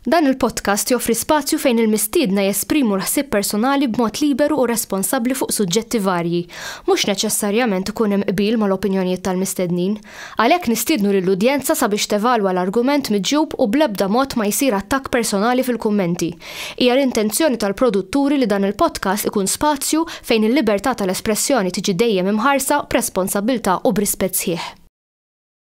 Dan il-podcast joffri spazju fejn il-mistiedna jesprimu l-ħsieb personali b'mod liberu u responsabbli fuq suġġetti varji. Mhux neċessarjament ikun hemm qbil mal-opinjonijiet tal-mistednin. Għalhekk nistiednu lill-udjenza sabiex tevalwa l-argument miġjub u bl-ebda mod ma jsir attakk personali fil-kummenti. Hija l-intenzjoni tal-produtturi li dan il-podcast ikun spazju fejn il-libertà tal-espressjoni tiġi dejjem imħarsa b'responsabbiltà u b'rispett sħiħ.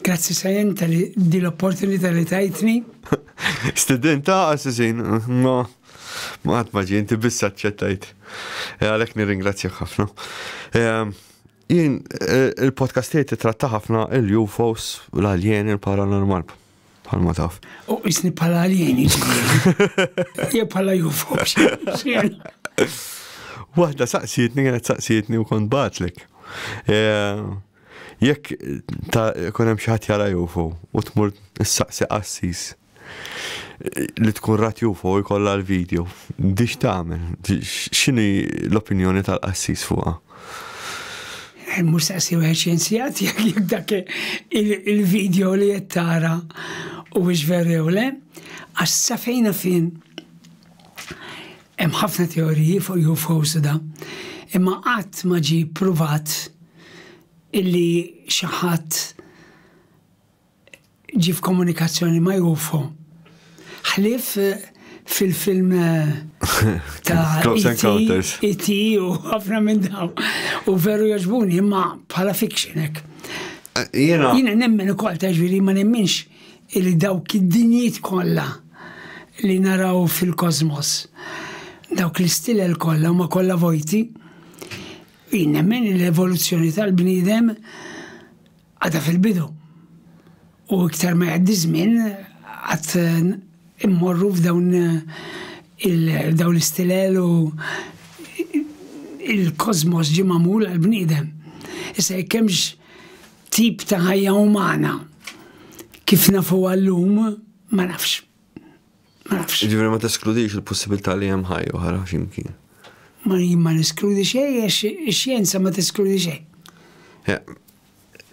Grazzi Sajan tal-li di l-opportunità li tajtni. Studenta għasizin, ma ma għat maġi, inti bissa ċċettajt. E, Għalek nirringrazzjak ħafna. E, jien e, il-podcast tiegħi titratta ħafna il-UFOs, l-alien, il-paranormal. Palma taf. U isni pala alien, jiġifieri. jew pala UFOs. Waħda saqsietni, għanet saqsietni u kont batlek. Jekk ta' ikun hemm xi ħadd jara UFO u tmur issaqsi qassis li tkun rat UFO jkollha l-video, dix tagħmel? X'inhi l-opinjoni tal-qassis fuqha? Mhux saqsi wieħed xjenzjat jekk dak il-video li qed tara u veru le, għax sa fejna fin Hemm ħafna teoriji fuq UFOs u da, imma qatt ma ġie pruvat illi xi ħadd ġie f'komunikazzjoni ma' UFO. Ħlief eh, fil-film eh, ta' Close e Encounters. E.T. u ħafna minn daw. U veru jaġbuni, imma bħala fiction hekk. Eh, jiena. Jiena nemmen ukoll ta' ġviri ma nemminx Illi dawk id-dinjiet kollha li naraw fil-kożmos, dawk l-istilel kollha huma kollha vojti, jien nemmen li l-evoluzzjoni tal-bniedem għadha fil-bidu. U iktar ma jgħaddi żmien qatt immorru f'dawn dawn l-istilel u il-kożmos ġie magħmul għall-bniedem. Issa jekk hemmx Tip ta' ħajja umana kif nafuha llum ma nafx. Ma nafx. Ġifieri ma teskludix il-possibilità li hemm ħajja oħra x'imkien. Ma jien ma neskludi xejn għax ix-xjenza ma teskludi xejn. Eh,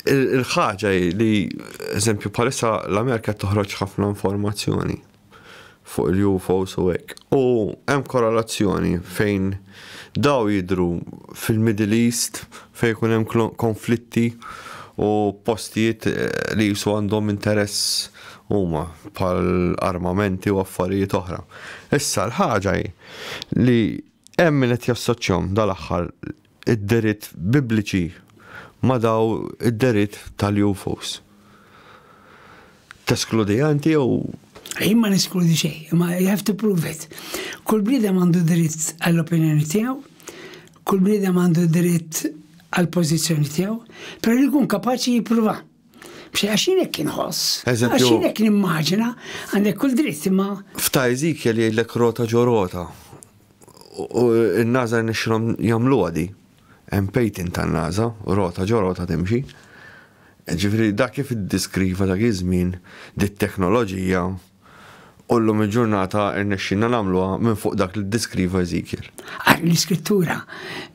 Il-ħaġa hi li, eżempju, bħalissa l-Amerika toħroġ ħafna informazzjoni. fuq il-UFOs u hekk. U hemm korrelazzjoni fejn daw jidhru fil-Middle East fejn ikun hemm konflitti u postijiet eh, li jisu għandhom interess huma bħal armamenti u affarijiet oħra. Issa l-ħaġa hi li hemm min qed jassoċjahom dal-aħħar id-dehriet Bibliċi ma' dawn id-dehriet tal-UFOs. Teskludiha inti jew. Jien ma neskludi xejn, imma you have to prove it. Kull bniedem għandu dritt għall-opinjoni tiegħu, kull bniedem għandu dritt għall-pożizzjoni tiegħu, però li jkun kapaċi jippruva. B'xi għax jien hekk inħoss. Għax jien hekk nimmaġina, għandek kull dritt imma. F'ta' Ezekiel jgħidlek rota ġo rota. U n-NASA rnexxilhom jagħmluha di. Hemm patent tan-NASA, rota ġo rota timxi. Ġifieri dak kif iddiskriva dak iż-żmien dit-teknoloġija u llum il-ġurnata rnexxilna nagħmluha minn fuq dak li ddiskriva Eżekjel. Għalhekk l-Iskrittura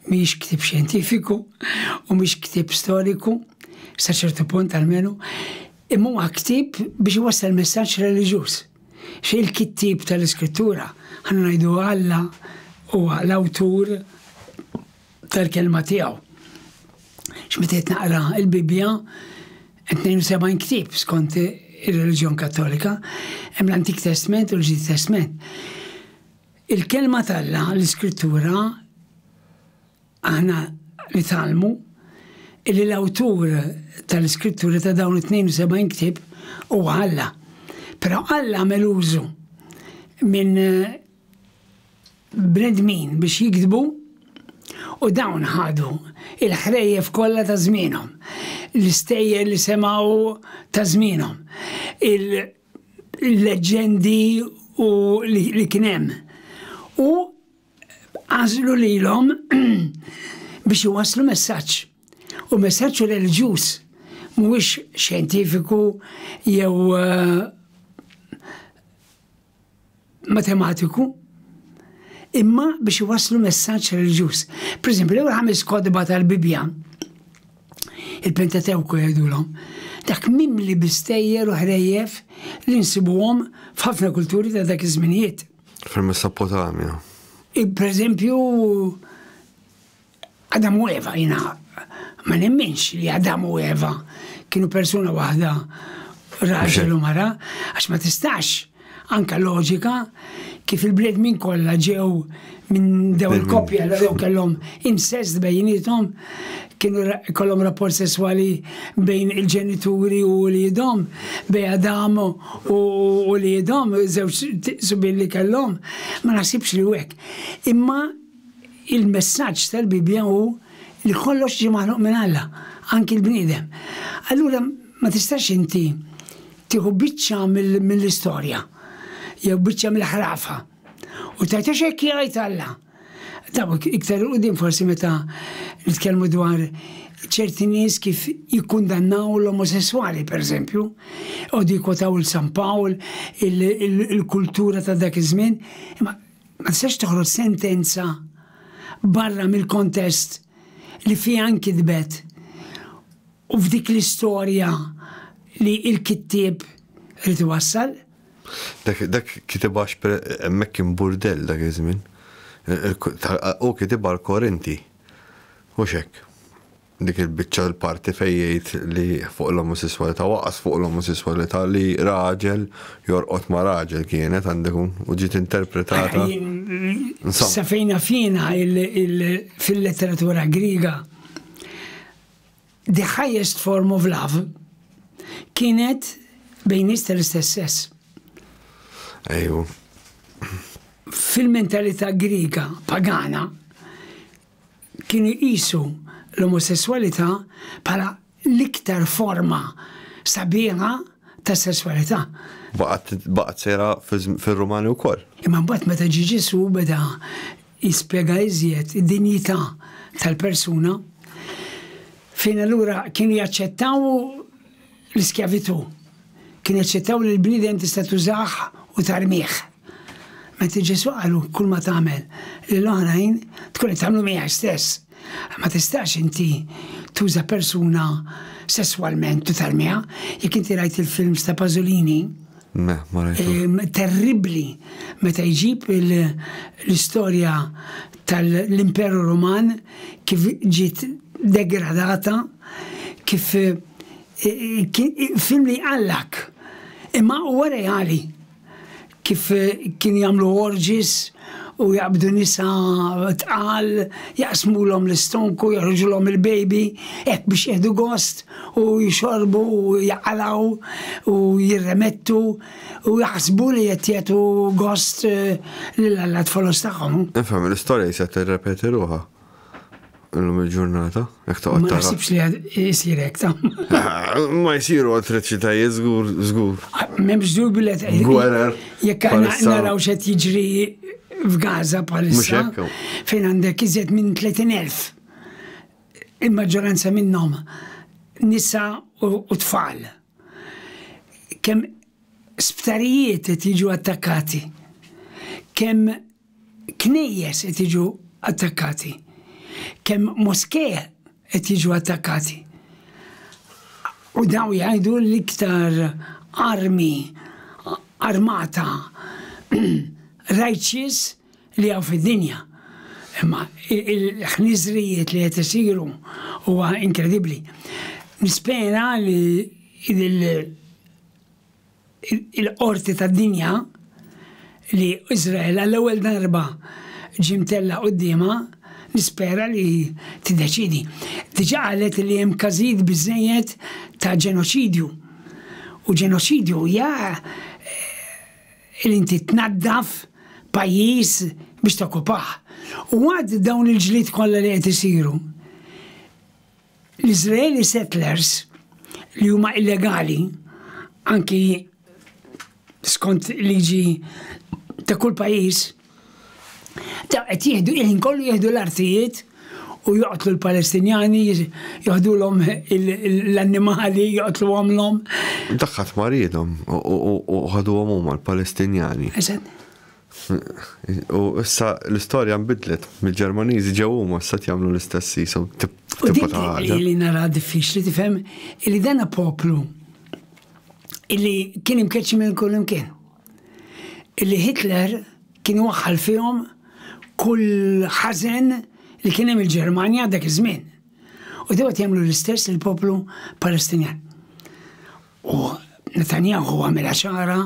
mhix ktieb xjentifiku u mhix ktieb storiku, sa ċertu punt almenu, imma huwa ktieb biex iwassal messaġġ reliġjuż. X'il-kittieb tal-Iskrittura, ħa ngħidu Alla huwa l-awtur tal-Kelma tiegħu. X'meta qed naqra l-Bibbja, 72 ktieb skont ir-reliġjon Kattolika, hemm l-Antik Testment u l-Ġdid Testment. Il-Kelma t'Alla, l-Iskrittura, Aħna nitgħallmu illi l-awtur tal-iskritturi ta' dawn it-72 ktieb huwa Alla. Però Alla għamel użu minn bnedmin biex jiktbu u dawn ħadu l-ħrejjef kollha ta' żmienhom, l-istejjer li semgħu ta' żmienhom, il-leġġendi u li kien hemm u għażlu lilhom biex iwasslu messaġġ. U messaġġ reliġjuż mhuwiex xjentifiku jew eh, matematiku imma biex iwasslu messaġġ reliġjuż. Per esempio, l-ewwel ħames kodba tal-Bibja, il-Pentatewku jgħidulhom, dak mimli bistejjer u ħrejjef li nsibuhom f'ħafna kulturi ta' dak iż-żminijiet. Fil-Mesopotamja. Pereżempju, Adam u Eva jiena ma nemminx li Adam u Eva kienu persuna waħda raġel u mara, għax ma tistax anka loġika kif il-bledmin kollha ġew minn daw il-koppja li daw kellhom insest bejnietom kienu kollhom rapport sesswali bejn il-ġenituri u wliedhom, bejn Adam u wliedhom, żewġ subien li kellhom, ma naħsibx li hekk. Imma il-messaġġ tal-Bibbja hu li kollox ġie maħluq minn Alla, anki l-bniedem. Allura ma tistax inti tieħu biċċa mill-istorja jew biċċa mill-ħrafa u tgħid għax hekk jgħid Alla. Taw iktar il-qudiem forsi meta nitkellmu dwar ċerti nies kif jikkundannaw l-omosessuali, per eżempju, u dikotaw il-San Pawl, il-kultura ta' dak iż-żmien, imma ma tistax toħroġ sentenza barra mill-kontest li fiha nkitbet u f'dik l-istorja li il-kittieb rrid iwassal. Dak kitibha hemmhekk kien burdell dak iż-żmien. Hu kitibha l-Korinti, mhux hekk? Dik il-biċċa l-parti fejn jgħid li fuq l-omosesswalità waqas fuq l-omosesswalità li raġel jorqod ma' raġel kienet għandu jkun u ġiet interpretata. Sa fejn naf jiena fil-letteratura Griega The Highest Form of Love kienet bejn nies tal-istess sess. Ejju. Fil-mentalità Griega pagana kienu jqisu l-omosessualità bħala l-iktar forma sabiħa ta' sessualità. Baqgħet sejra fir-Rumani wkoll. Imma mbagħad meta ġie Ġesù beda jispjega iżjed id-dinjità tal-persuna, fejn allura kienu jaċċettaw l-iskjavitù, kienu jaċċettaw li l-bniedem tista' tużah u tarmih. Mentri Ġesù qalu kull ma tagħmel lill-oħrajn tkun qed tagħmlu miegħek stess. Ma tistax inti tuża persuna sesswalment u tarmiha, jekk inti rajt il-films ta' Pasolini, terribli meta jġib l-istorja tal-Imperu Roman kif ġiet degradata kif film li jqallak imma huwa reali kif kien jagħmlu orgies u jaqbdu nisa tqal, jaqsmulhom l-istonku, joħorġulhom il-baby, hekk biex jieħdu gost u jxorbu u jaqalaw u jirremettu u jaħsbu li qed jagħtu gost lil Alla t-folos tagħhom. Infhem, l-istorja jisha tirrepeti ruħha. Illum il-ġurnata, jek ta' Ma nasibx li jisir hekk ta' Ma jisiru attriċitajiet żgur żgur. M'hemmx żgur billet. Gwerer. Jekk naraw xed jiġri f'Gaza bħalissa fejn għandek iżjed minn 30,000 il-maġġoranza minnhom nisa u tfal. Kemm sptarijiet qed jiġu attakkati. Kemm Knejjes qed jiġu attakkati. Kemm moskee qed jiġu attakkati. U dawn jgħidu l-iktar armi armata righteous li hawn fid-dinja. Imma il-ħniżrijiet li qed isiru huwa inkredibbli. Nispera li il-qorti tad-dinja li Iżrael għall-ewwel darba ġie mtella' quddiemha, nispera li tiddeċiedi. Diġà qalet li hemm każijiet biżżejjed ta' ġenoċidju. U ġenoċidju hija li inti tnaddaf pajjiż biex tokkupah. U għad dawn il-ġlied kollha li qed isiru, L-Iżraeli settlers li huma illegali anki skont liġi ta' kull pajjiż ta' qed jieħdu il kollu jieħdu l-artijiet u joqtlu l-Palestinjani, joħdulhom l-annimali, joqtlu għamlhom. Daħħat maridhom u ħaduhom huma l-Palestinjani. U issa l-istorja nbidlet, mill-Ġermaniżi ġew huma issa jagħmlu l-istess jisu tibqa ta' ħaġa. Li nara diffiċli tifhem li dan poplu illi kien imkeċċi minn kull imkien. Illi Hitler kien waħħal fihom kull ħażen li kien hemm il-Ġermanja dak iż-żmien. U dewet jagħmlu l-istess il-poplu Palestinjan. U Netanyahu għamilha ċara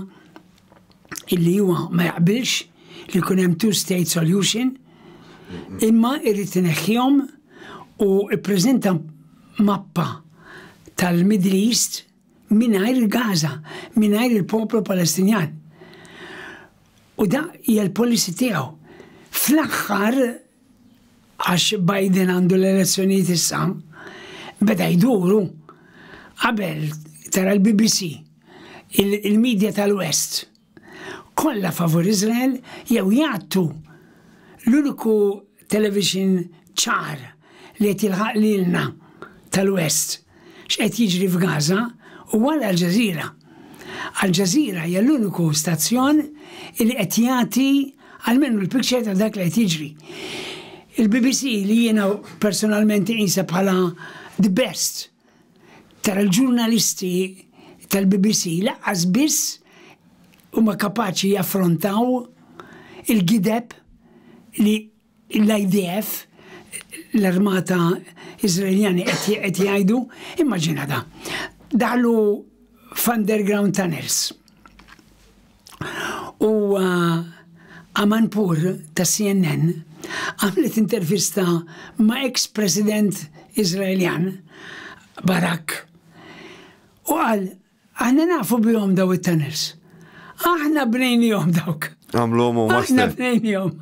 illi huwa ma jaqbilx li jkun hemm two-state solution imma irrid ineħħihom u ppreżenta mappa tal-Middle East mingħajr il-Gaza, mingħajr il-poplu Palestinjan. U da hija l-policy tiegħu. Fl-aħħar għax Biden għandu l-elezzjonijiet issa, beda jduru qabel tara l-BBC il-medja tal-West kollha favur Izrael jew jgħattu l-uniku television ċar li qed jilħaq lilna tal-West x'qed jiġri f'Gaza u għal Al Jazeera. Al Jazeera hija l-uniku stazzjon li qed jagħti almenu l-picture ta' dak li qed jiġri. Il-BBC li jiena personalment inqisha bħala the best tara l-ġurnalisti tal-BBC laqqas biss huma kapaċi jaffrontaw il-gideb li L-IDF, l-armata Iżraeljani qed jgħidu, immaġina da, daħlu f'underground tunnels. U uh, Amanpur ta' CNN għamlet intervista ma' ex-president Izraeljan Barak u għal Aħna nafu bihom daw it-tunnels. Aħna bnejnihom dawk. Għamluhom huma stess. Aħna bnejnihom.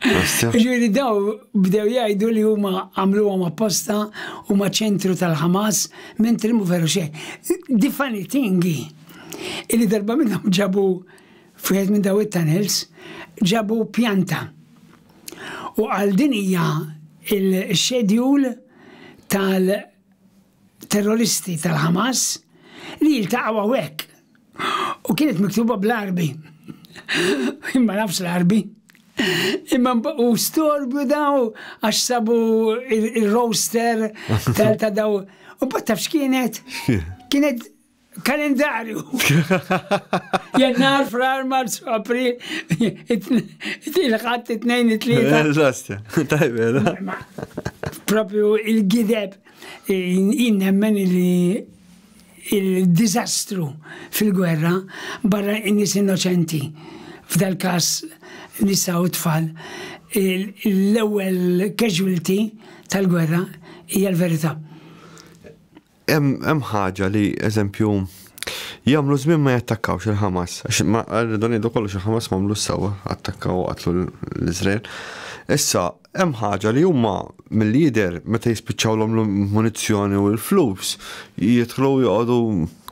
Ġifieri daw bdew jgħidu li huma għamluhom apposta huma ċentru tal-Ħamas minn trimu veru xejn. Diffani tingi illi darba minnhom ġabu f'wieħed minn daw it-tunnels ġabu pjanta. U għal din hija il-xedjul tal- terroristi tal-Hamas li jiltaqgħu hawnhekk. U kienet miktuba bl-Arbi. Imma nafx l-Arbi. Imma u storbju daw għax sabu il-roster tal-ta' daw. U bat tafx kienet? Kienet kalendarju. Jannar, frar, marzu, april, il-ħat, it-tnejn, it-tlieta. Eżasti, tajbel. Propju il-gideb, jinnemmen li il-dizastru fil-gwerra barra in-nis innoċenti. F'dal kas nisa u tfal, l-ewwel casualty tal-gwerra hija l-verità. Hemm ħaġa li, eżempju, jagħmlu żmien ma jattakkawx il-Ħamas. Għax ma rridu ngħidu kollox il-Ħamas ma għamlu sewwa, attakkaw u qatlu l-Iżrael. Issa, hemm ħaġa li huma mill-lider meta jispiċċawlhom l-munizzjoni u l-flus jidħlu joqogħdu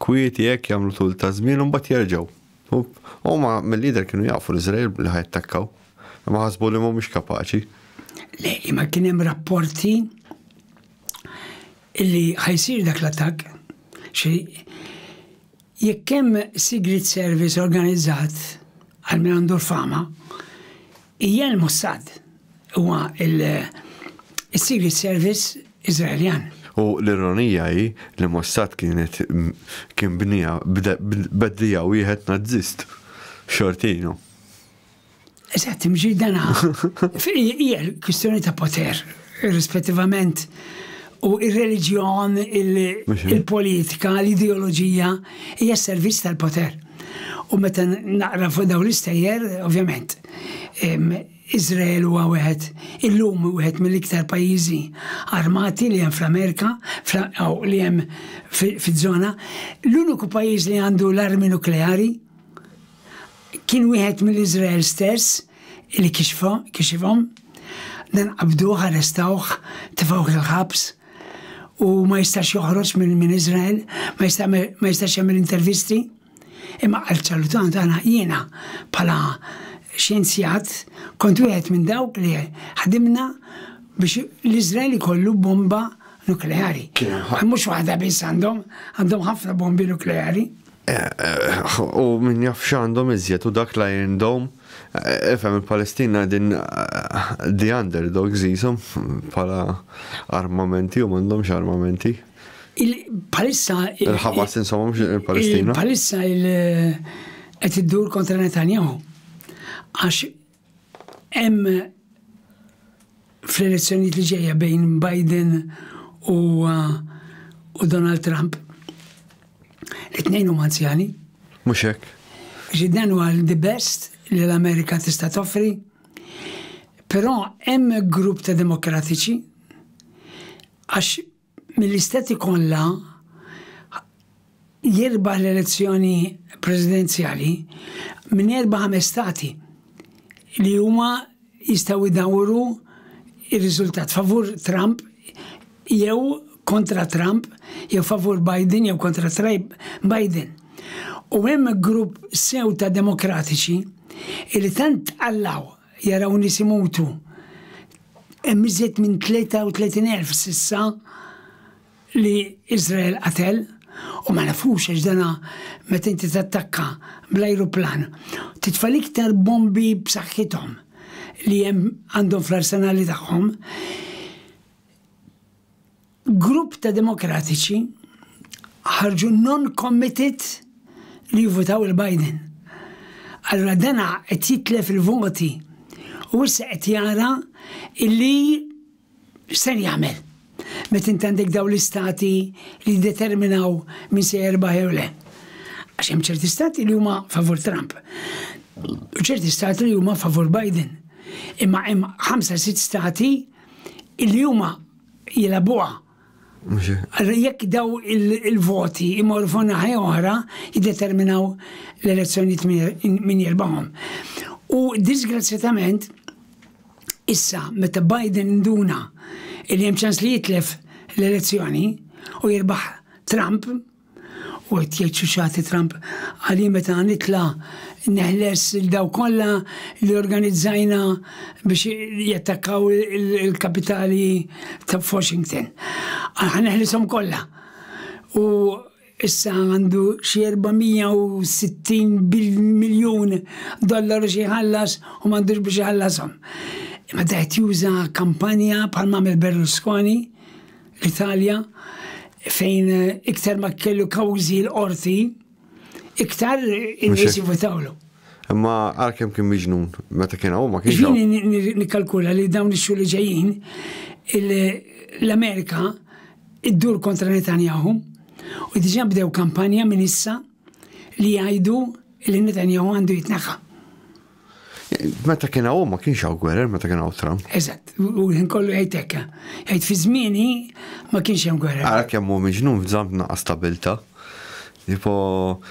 kwieti hekk jagħmlu tul ta' żmien u mbagħad jerġgħu. Huma mill-lider kienu jafu l-Iżrael li ħajattakkaw. Ma ħasbu li mhumiex kapaċi. Le, imma kien hemm rapporti illi ħa jsir dak l-attakk, xi jekk hemm Sigriet Service organizzat għal min għandu l-fama, hija l-Mossad, huwa l-Sigriet Service Iżraeljan. U l-ironija hi li Mossad kienet kien bniha b'dija wieħed Nazzist, Shortino. Eżatt, imġidana. Hija kwistjoni ta' poter, rispettivament u il-reliġjon, il-politika, l-ideoloġija, hija servizz tal-poter. U meta naqra fuq daw l-istejjer, ovvjament, Izrael huwa wieħed illum wieħed mill-iktar pajjiżi armati li hemm fl-Amerika, li hemm fiż-żona, l-uniku pajjiż li għandu l-armi nukleari Kien wieħed mill-Iżrael stess li kixifhom. Dan qabduh, arrestawh, tefgħuh il-ħabs u ma jistax joħroġ minn Iżrael, ma jistax jagħmel intervisti. Imma qal ċalutant għana jiena bħala xjenzjat kont wieħed minn dawk li ħdimna biex l-Iżrael ikollu bomba nukleari. Mhux waħda biss għandhom, għandhom ħafna bombi nukleari. U min jaf x'għandhom iżjed u dak la jindom. Ifhem il-Palestina qegħdin the underdogs qishom bħala armamenti u m'għandhomx armamenti. Bħalissa Il-Ħamas insomma mhux il-Palestina. Bħalissa qed iddur kontra Netanyahu għax Hemm fl-elezzjonijiet li ġejja bejn Biden u u Donald Trump. It-tnejn huma anzjani. Mhux hekk. Ġiddan huwa the best li l-Amerika tista' toffri. Però hemm grupp ta' demokratiċi għax mill-Istati kollha jirbaħ l-elezzjoni presidenzjali minn erba' ħames Stati li huma jistgħu jdawru ir-riżultat favur Trump jew kontra Trump, jew favur Biden jew kontra Trump Biden. U hemm grupp sew ta' demokratiċi li tant tqallaw jaraw nies imutu. Hemm iżjed minn 33,000 s'issa li Iżrael qatel u ma nafux għax dana meta inti tattakka bl-ajruplan titfa' l-iktar bombi b'saħħithom li hemm għandhom fl-arsenali tagħhom Grupp ta' Demokratiċi ħarġu non-committed li jivvutaw il Biden. Allura dana qed jitlef il-voti u issa qed jara illi x'ser jagħmel meta inti għandek dawn l-istati li jiddeterminaw min se jerbaħ jew le. Għax hemm ċerti stati li huma favur Trump u ċerti stati li huma favur Biden. Imma hemm ħamsa sitt stati li huma jilagħbuha. Allura jekk daw il-voti imorru fuq naħa oħra jiddeterminaw l-elezzjonijiet min jirbahom. U disgrazzjatament issa meta Biden induna li hemm ċans li jitlef l-elezzjoni u jirbaħ Trump, U qed jgħid xi xagħti Trump għali meta nitla' neħles il daw kollha li organizzajna biex jattakkaw il-kapitali ta' Washington. Għal neħlishom kollha. U issa għandu xi 460 miljun dollaru xi jħallas u m'għandux biex jħallashom. Meta qed juża kampanja bħal mamel Berlusconi L-Italja, fejn iktar ma kellu kawżi l-qorti, iktar in-nies jivutawlu. Imma għalkemm kien miġnun, meta kien hawn ma kienx. Jieni nikkalkula li dawn ix-xhur li ġejjin l-Amerika iddur kontra Netanyahu u diġà bdew kampanja minn issa li jgħidu li Netanyahu għandu jitneħħa. Meta kien hawn ma kienx hawn gwerer meta kien hawn Trump. Eżatt, u l-ħin kollu jgħid hekk. Jgħid fi żmieni ma kienx hemm gwerer. Ara kemm hu miġnun f'żamm tnaqqas stabilta. Tipo,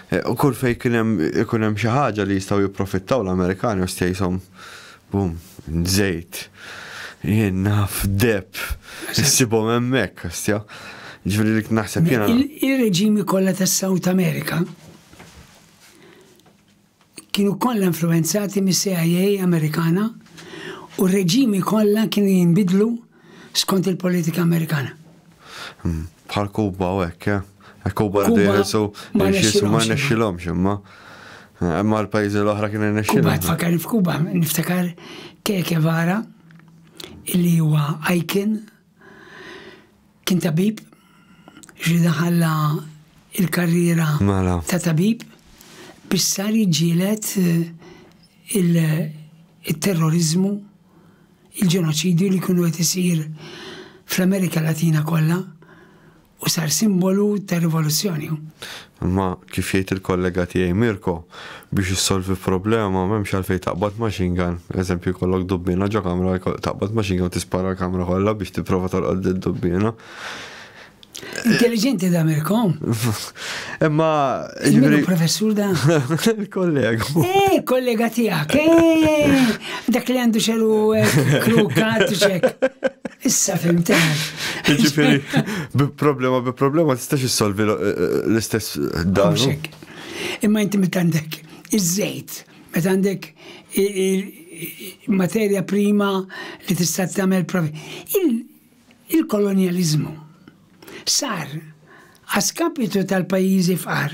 eh, u kull fej kien hemm ikun hemm xi ħaġa li jistgħu jipprofittaw l-Amerikani u stejshom bum, żejt. Jien naf deb, issibhom hemmhekk, kastja. Ġifieri li naħseb jiena. Il-reġimi kollha tas-South America kienu kollha influwenzati mis-CIA Amerikana u r-reġimi kollha kienu jinbidlu skont il-politika Amerikana. Bħal Kuba u hekk, eh? Hekk Kuba rridu jeħilsu biex ma nexxilhomx imma. Imma l-pajjiżi l-oħra kienu jnexxilhom. Kuba tfakkar f'Kuba, niftakar Che Guevara li huwa icon Kien tabib, ġri daħalla il-karriera mela. ta' tabib biex sar jiġġielet eh, il-terrorizmu, il-ġenoċidju li kienu qed isir fl-Amerika Latina kollha u sar simbolu ta' rivoluzzjoni. Imma kif jgħid il-kollega tiegħi Mirko, biex issolvi problema m'hemmx għalfejn taqbad machine gun, eżempju jkollok dubbiena ġo kamra taqbad machine gun tispara l-kamra kollha biex tipprova tolqod lid-dubbiena. Intelligenti da Mirko. Imma. Il-minu professur da. Il-kollega. Eh, kollega tijak. Eh, dak li għandu xelu eh, krukat ċek. Issa fim teħ. Ġifiri, bi problema, bi problema, tistax jissolvi eh, l-istess dan. Imma inti mit għandek iż-żejt, met għandek materja prima li tista' tagħmel provi. Il-kolonjaliżmu sar a skapitu tal-pajjiżi fqar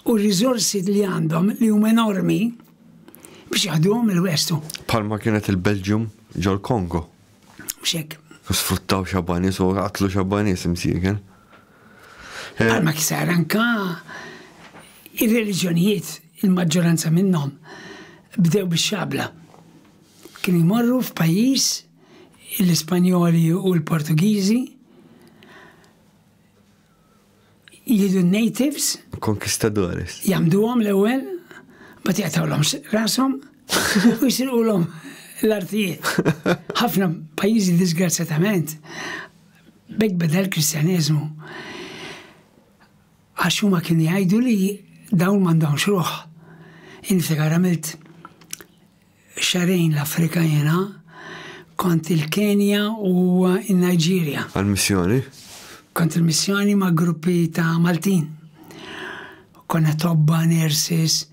u r-riżorsi li għandhom li huma enormi biex jaħduhom il-West u. Bħalma kienet il-Belgium ġol-Kongo. Mhux hekk. Sfruttaw xabba nies u qatlu xabba nies imsieken. Bħalma kisar anka ir-reliġjonijiet il-maġġoranza minnhom bdew bix-xabla. Kienu jmorru f'pajjiż l-Ispanjoli u l-Portugiżi, jidu natives. Conquistadores. Jamduhom l-ewwel, bat jaqtawlhom rashom u jisirqulhom l-artijiet. Ħafna pajjiżi disgrazzjatament bekk beda l-Kristjaneżmu. Għax huma kien jgħidu li dawn m'għandhomx ruħ. Inftakar għamilt xahrejn l-Afrika jiena, kont il-Kenja u n-Nigeria. Għall-missjoni? Kont il-missjoni ma' gruppi ta' Maltin. Konna tobba, nurses,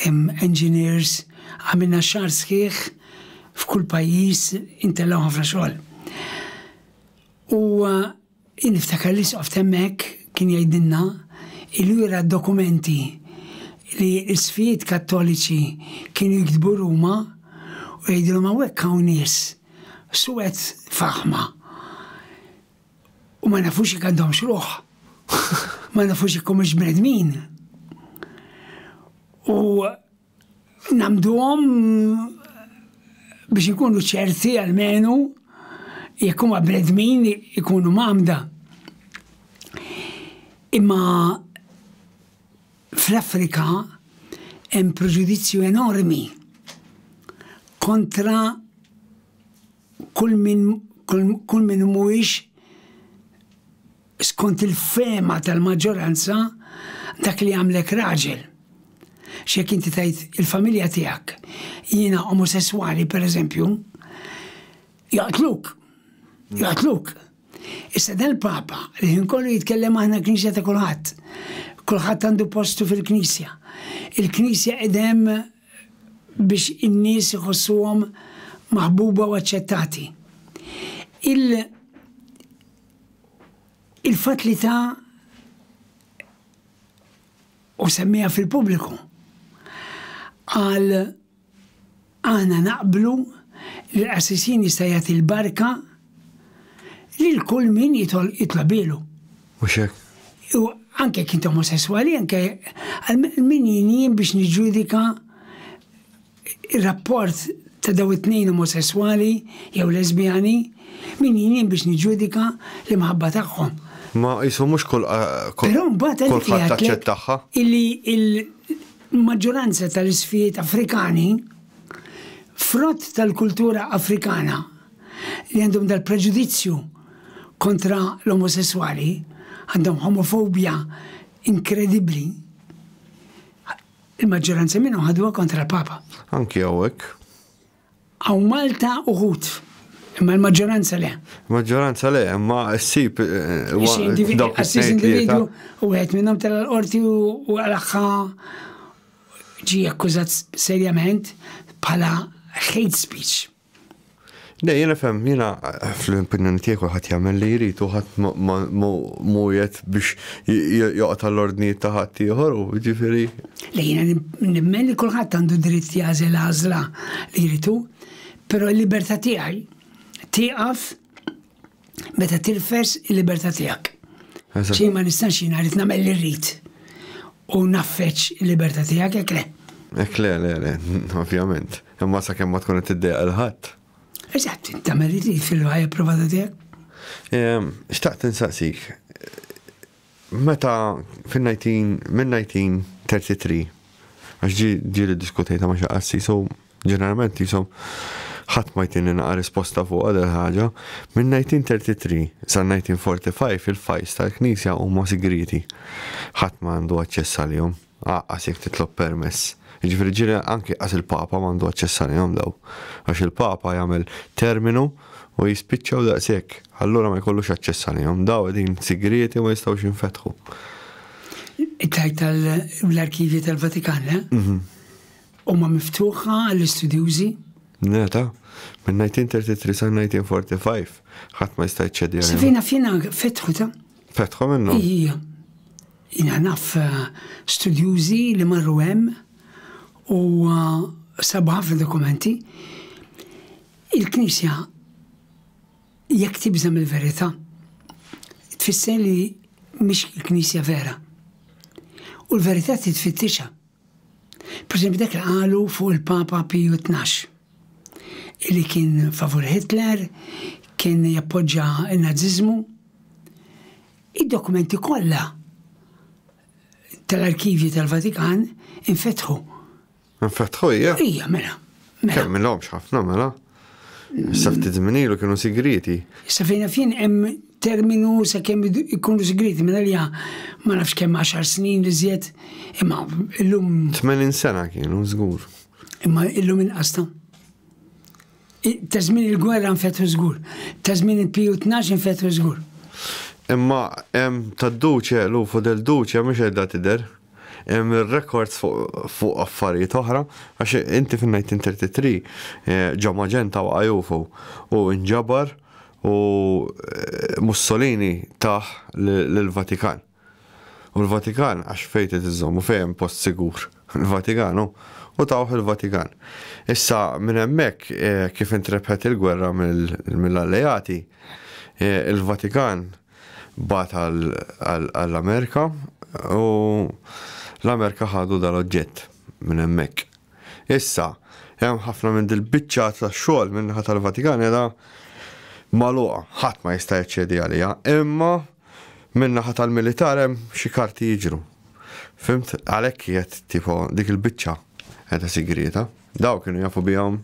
engineers, għamilna xahar sħiħ f'kull pajjiż, intellaw ħafna xogħol. U Jien niftakar l-Isqof t'hemmhekk kien jgħidilna li jura d-dokumenti li l-Isqfijiet Kattoliċi kienu jiktbu Ruma u jgħidilhom hawnhekk hawn nies suwed f'aħma u ma nafux jekk għandhomx ruħ, ma nafux jekk humiex bnedmin. U. Nagħmduhom biex inkunu ċerti almenu jekk huma bnedmin ikunu mgħammda. Imma fl-Afrika hemm preġudizzju enormi kontra kull min kull min mhuwiex Skont il-fehma tal-maġġoranza, dak li jagħmlek raġel. X'jekk inti tgħid il-familja tiegħek, jiena omosesswali pereżempju, jaqtluk. Jaqtluk. Issa dal-Papa li ħin kollu jitkellem aħna knisja ta' kulħadd. Kulħadd għandu postu fil-knisja. Il-knisja qidem biex in-nies iħossuhom maħbuba u aċċettati. Il Il-fatt li ta u semmiha fil-pubbliku qal aħna naqblu li l-qassisin jista' jagħti l-barka lil kull min jitlobilu. Mhux hekk? U anke kien omosesswali, anke għal min jien biex niġġudika ir-rapport ta' dawn it-tnejn omosesswali jew lesbjani, min jien biex niġġudika l-imħabba tagħhom? Ma qisu mhux kull Però mbagħad għalhekk li għedtlek illi l-maġġoranza tal-isfijiet Afrikani, frott tal-kultura Afrikana li għandhom dal-preġudizzju kontra l-omosesswali, għandhom homofobja inkredibbli, Il-maġġoranza minnhom ħaduha kontra l-Papa. Anki hawnhekk. Hawn Malta uħud. Imma l-maġġoranza le. Maġġoranza le, imma ssib eh, dawk individwu u għed minnhom tal-qorti u għalħħa ġi akkużat serjament bħala hate speech. Le, jiena fem, jiena fl-opinjoni tiegħi kulħadd jagħmel li jrid u ħadd mhujet biex joqgħod għall-ordnijiet ta' ħadd ieħor u ġifieri. Le jiena nimmen li kulħadd għandu dritt jażel għażla li jridu, però l-libertà tiegħi tieqaf meta tirfes il-libertà tiegħek. Xejn ma nistax jien għalit nagħmel li rrid u naffeċ il-libertà tiegħek hekk le. Hekk le, le, le, ovvjament. Imma sa kemm ma tkun qed tiddejqa l-ħadd. Eżatt, tagħmel li trid fil-ħajja provata tiegħek. Xtaqt insaqsik, Meta fin-1933, għax ġie ġieli ddiskutejtha ma' xi qassis u ġeneralment qishom ħadd ma jtini naqa' risposta fuqha dil-ħaġa, min-1933 sal-1945 il-fajls tal-Knisja huma sigrieti. Ħadd ma għandu aċċess għalihom. Aqqas jekk titlob permess. Jiġifieri ġieli anki qas il-Papa m'għandu aċċess għalihom dawn. Għax il-Papa jagħmel terminu u jispiċċa u daqshekk. Allura ma jkollux aċċess għalihom. Dawn qegħdin sigrieti u ma jistgħux jinfetħu. Tgħid tal-arkivji tal-Vatikan, le? Huma miftuħa għall-istudjużi? Le, ta. Minn 1933 sa 1945 ħadd ma jista' jċedi għalihom. Safina fjena fetħu ta? Fetħu minnhom? Ija. Jiena naf studjużi li marru hemm u sabu ħafna dokumenti. Il-Knisja jekk tibża mill-verità tfisser li mhix il-Knisja vera. U l-verità titfittixha. Per esempio dak li qalu fuq il-Papa Piju 12 li kien favur Hitler, kien jappoġġa n-Naziżmu. Id-dokumenti kollha tal-arkivji tal-Vatikan infetħu. Infetħu hija? Hija, mela. mela. Kemm minhomx ħafna mela. Issa ftit żmien ilu kienu sigrieti. Issa fejn fin hemm terminu sa kemm ikunu sigrieti minn għalija ma nafx kemm 10 snin li żjed imma illum. 80 sena kienu żgur. Imma illum inqasta. Ta' żmien il-gwerra nfetħu żgur. Ta' żmien il-Piju Tnax infetħu żgur. Imma hemm tad-Duce Lufo del Duce mhux qiegħda tidher. Hemm ir-rekords fuq affarijiet oħra għax inti fin-1933 ġo Magenta waqa' Jufo u nġabar u Mussolini tah lill-Vatikan. U l-Vatikan, għax fejn trid iżżomm u fejn hemm post sigur? Il-Vatikan hu. U tawh il-Vatikan. Issa, minn hemmhekk, kif intrebħet il-gwerra mill-Alleati, il-Vatikan bagħat għall-Amerika u l-Amerika ħadu dal-oġġett minn hemmhekk. Issa, hemm ħafna minn dil-biċċa ta' xogħol min-naħa tal-Vatikan qiegħda magħluqa, ħadd ma jista' jaċċedi għaliha, imma Minn naħa tal-militar hemm xi karti jiġru. Fimt? Għalhekk qiegħed tipo dik il-biċċa qiegħda sigrieta. Daw kienu jafu bihom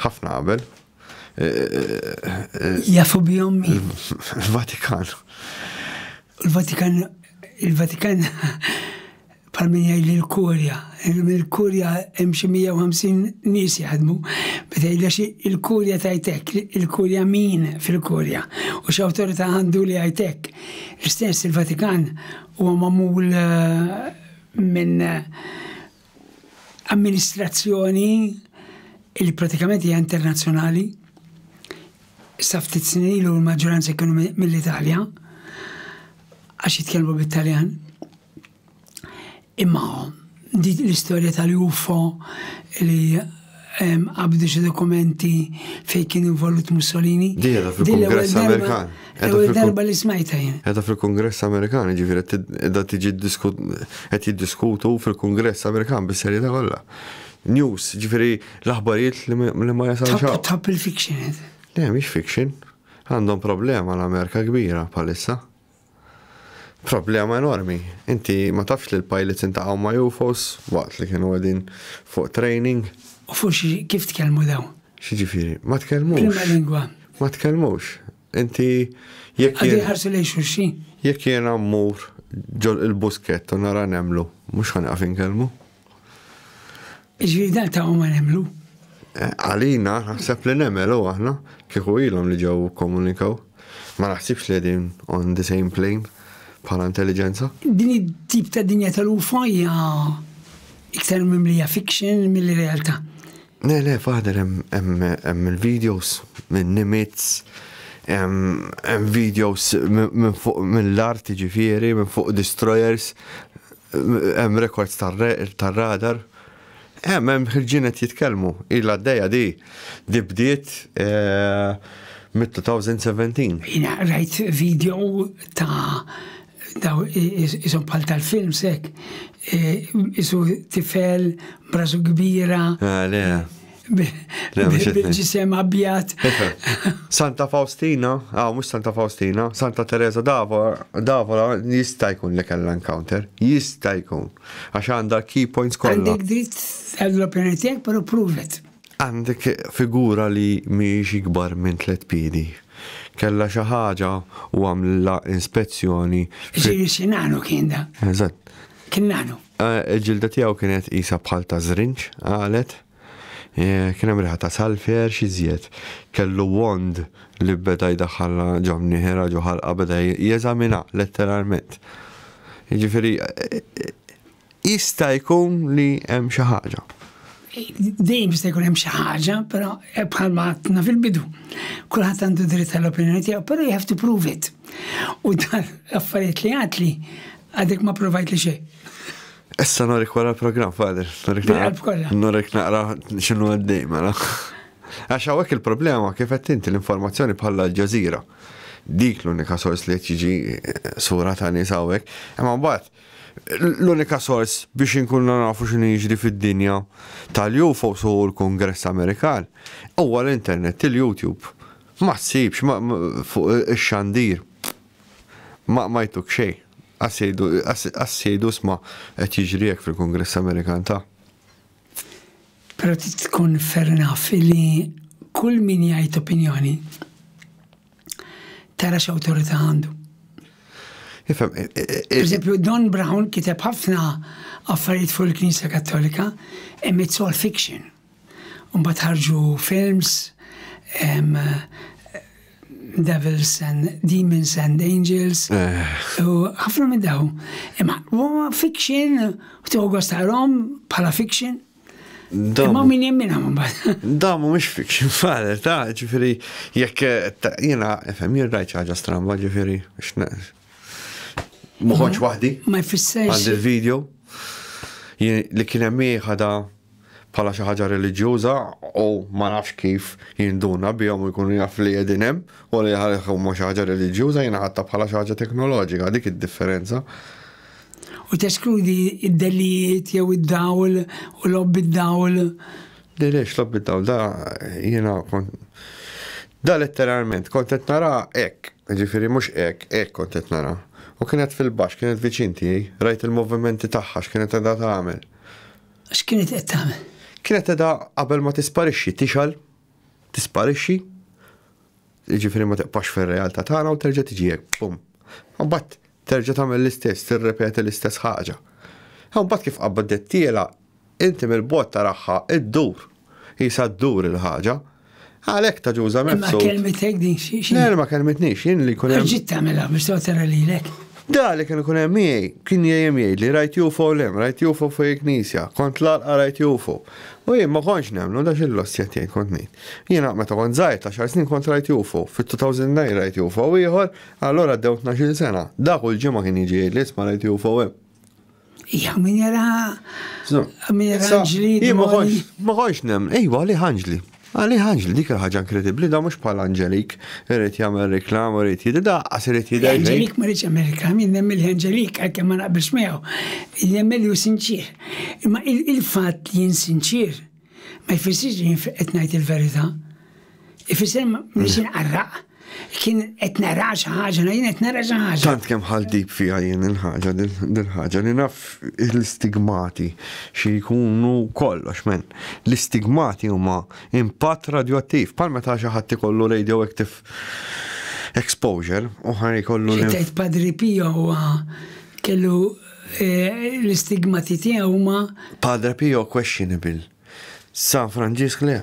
ħafna qabel. Jafu bihom min? Il-Vatikan. Il-Vatikan il-Vatikan bħal min jgħid li l-kurja, il-kurja hemm xi 150 nies jaħdmu, ma tgħidha xi il-kurja tgħid hekk, il-kurja min fil-kurja u x'awtorità għandu li jgħid hekk. L-istess il-Vatikan huwa magħmul eh, minn amministrazzjoni li pratikament hija internazzjonali. Sa ftit snin ilu l-maġġoranza kienu mill-Italja għax jitkellmu bit-Taljan. Imma dik l-istorja tal-UFO li qabdu xi dokumenti fejn kien involut Mussolini. Di għedha fil-Kongress Amerikan. Għedha darba li smajta jien. Għedha fil-Kongress Amerikan, ġifiri, għedha tiġi għed jiddiskutu fil-Kongress Amerikan bis-serjeta kollha. News, ġifiri, l-aħbarijiet li ma jasal xaw. Top il-fiction. Le, miex fiction. Għandhom problema l-Amerika kbira palissa. Problema enormi. Inti ma tafx li l-pilots intaqgħu ma' UFOs waqt li kienu qegħdin fuq training? U fuq xi kif tkellmu dawn? X'jiġifieri? Ma tkellmux. B'liema lingwa? Ma tkellmux. Inti jekk. Qegħdin iħarsu lejn xulxin? Jekk jiena mmur ġol il-buskett u nara nemlu, mhux ħa nieqaf inkellmu? Ġviri dan ta' ma nemlu. Eh, għalina, naħseb li nemel u aħna, kieku ilhom li ġew komunikaw. Ma naħsibx li din on the same plane bħala intelligenza. Din it-tip ta' dinja tal-UFO hija iktar mimlija fiction mill realtà. Ne, le, faħder hemm il-videos minn nimits, hemm videos minn fuq mill-art ġifieri, minn fuq destroyers, Hemm rekords tar-radar. Hemm, hemm ħirġin qed jitkellmu. Ilha għaddejja di. Di bdiet mit-2017. Jiena rajt video ta' daw isom bħal tal-films hekk. Isu tifel brasu kbira. Le. bil-ġisem abjad. Santa Faustina, għaw, ah, mux Santa Faustina, Santa Teresa Davola jista' jkun li kella encounter, jista' jkun. Għax għandha key points kollha. Għandek dritt għall-opinjoni tiegħek, però pruvet. Għandek figura li miex ikbar minn tliet piedi. Kella xi ħaġa u għamlilla inspezzjoni. Ġiri xinanu kien da. Eżatt. Kien nagħnu. Il-ġilda tiegħu kienet qisha bħal ta' żrinġ, qalet. Kien hemm riħa ta' salfier xi żjed. Kellu wand li beda jdaħħalha ġo mnieħerha ġo ħalqha beda jeżaminha letteralment. Jiġifieri jista' jkun li hemm xi ħaġa. Dejjem jista' jkun hemm xi ħaġa, però eh, bħalma għadna fil-bidu. Kulħadd għandu dritt għall-opinjoni tiegħu, però you have to prove it. U dan l-affarijiet li għad li għadek ma provajt li xejn. Issa norik wara l-programm, Fader. Norik naqra xinu għaddej, mela. Għax għawek il-problema kif qed inti l-informazzjoni bħala l-ġazira. Dik l-unika sors li jiġi eh, sura ta' nies hawnhekk. Imma mbagħad L-unika sors biex inkunu nafu x'inhu jiġri fid-dinja tal-UFOs u l-Kungress Amerikan huwa l-internet, il-YouTube. Ma ssibx fuq ix-xandir. Ma ma jtuk xejn. Qas jgħidu qas jgħidu isma' qed jiġri hekk fil-Kungress Amerikan ta'. Però trid tkun fair enough li kull min jgħid opinjoni tara x'awtorità għandu. Ifhem. Eh, eh, eh, per eżempju, Don Brown kiteb ħafna affarijiet fuq il-Knisja Kattolika, imma it's all fiction. Mbagħad ħarġu films, Devils and Demons and Angels. U ħafna minn daw. Imma huwa fiction, u togħu għastarom bħala fiction. Imma min jemmina ma bad. Da mu mux fiction fare, ta' ġifiri, jek jena, fem jirrajt ħaġa stramba ġifiri, muħħonċ wahdi. Ma jfisser. Għand il-video, li kienem miħada bħala xi ħaġa reliġjuża u ma nafx kif jinduna bihom jkunu jaf li qegħdin hemm u li ħalihom xi ħaġa reliġjuża jingħatta bħala xi ħaġa teknoloġika dik id-differenza. u teskludi d-dellijiet jew id-dawl u lob bid-dawl. Le le x'lob bid-dawl da jiena kont da letteralment kont qed nara hekk, jiġifieri mhux hekk, hekk kont qed nara. U kienet fil-baxx, kienet viċin tiegħi, rajt il-movimenti tagħha x'kienet qiegħda tagħmel. X'kienet qed tagħmel? Kienet qiegħda qabel ma tisparixxi tixgħel, tisparixxi, jiġifieri ma tibqax fir-realtà tagħna u terġa' tiġi hekk, bum. Imbagħad Terġa' tagħmel l-istess, tirrepeti l-istess ħaġa. U mbagħad kif qabdittielha, inti mill-bogħod taraha ddur. Qisha ddur il-ħaġa. Għalhekk ta' Ġuża Mifsud. Imma kelmitek din xi xi. Le, ma kelmitnix, jien li jkun hemm. Għax ġiet tagħmilha biex tgħod tara lilek. Da li kien ikun hemm miegħi, kien jgħim jgħidli rajt UFO lem, rajt UFO fuq il-knisja, kont l-għalqa rajt UFO. U jien ma kontx nemmnu da xi loss qed jgħid kont ngħid. Jiena meta kont żgħir ta' xar snin kont rajt UFO, fit-2009 rajt UFO ieħor, Allura għaddew tnax-il sena. Da kull ġimgħa kien jiġi jgħidli isma' rajt UFOM. Ija, min jara. Min jara ġli. Ma konx nem, ejwa li ħanġli. Għali ħanġli dik ħaġa inkredibbli da mhux bħal Angelik, irid jagħmel reklam, irid jidda, daqqas irid jidda. Angelik ma rridx jagħmel reklam, jien nemmen li Angelik għalkemm ma naqbilx miegħu, nemmen li hu sinċier. Imma il-fatt li jien sinċier Ma jfissirx li qed ngħid il-verità. Ifisser mhux inqarraq. Kien qed nara xi ħaġa, jien qed nara xi ħaġa. Tant kemm ħal dib fiha jien il-ħaġa, dil-ħaġa li naf l-istigmati xi jkunu kollox men. L-istigmati huma impatt radioattiv, bħal meta xi ħadd ikollu radioactive exposure u ħaj ikollu. Tgħid Padri Pio huwa kellu L-istigmati tiegħu huma. Padre Pio questionable. San Franġisk le.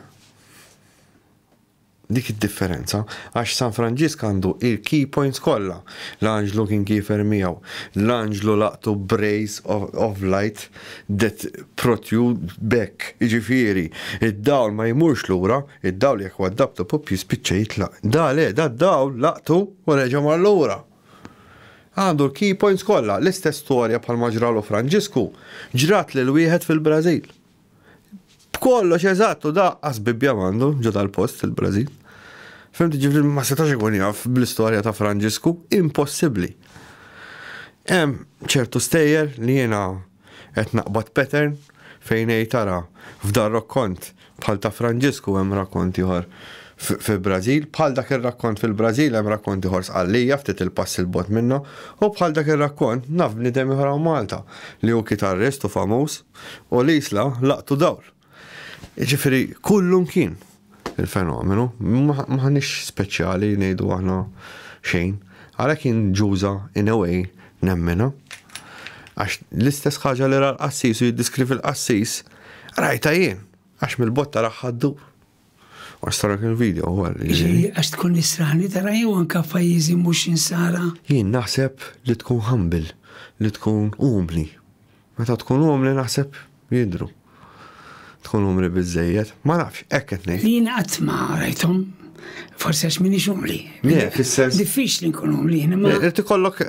Dik id-differenza, għax San Franġisk għandu il-key points kollha. L-anġlu kien kiefer miegħu, l-anġlu laqtu brace of, of light that protrude back, jiġifieri, id-dawl ma jmurx lura, id-dawl jekk huwa dabtu pupp jispiċċa jitlaq. Da le, da d-dawl laqtu u reġa' mar lura. Għandu l-key points kollha, l-istess storja bħalma ġralu Franġisku, ġrat lil wieħed fil-Brażil. B'kollox eżatt u daqqa sbibbja m'għandu ġo dal-post il-Brażil. Fimti ġifri ma setax ikun jaf bl-istorja ta' Franġisku, impossibbli. Hemm ċertu stejjer li jiena Qed naqbad pattern fejn ngħid ara f'dan rokkont bħal ta' Franġisku hemm rakkont ieħor fil-Brażil, bħal dak ir-rakkont fil-Brażil hemm rakkont ieħor Sqallija ftit il-pass 'il bogħod minnha u bħal dak ir-rakkont naf bniedem ieħor hawn Malta li hu kitarrist u famuż u l-Isla laqtu dawl. Jiġifieri kullum kien il-fenomenu, m'aħniex speċjali ngħidu aħna xejn. Għalhekk jien ġuża in a way nemminha. Għax l-istess ħaġa li ra l-qassis u jiddiskrivi l-qassis, rajtha jien, għax mill-botta raħħa ddur. Għax tara kien video għal. Għax tkun nisrani tara jew anka f'pajjiżi mhux insara. Jien naħseb li tkun humble, li tkun umli. Meta tkun umli naħseb jidru. Tkun umli biżejjed, ma nafx, hekk qed ngħid. Jien qatt ma rajthom forse għax minix umli. Le, fis-sens. Diffiċ li nkun umli. Irti kollok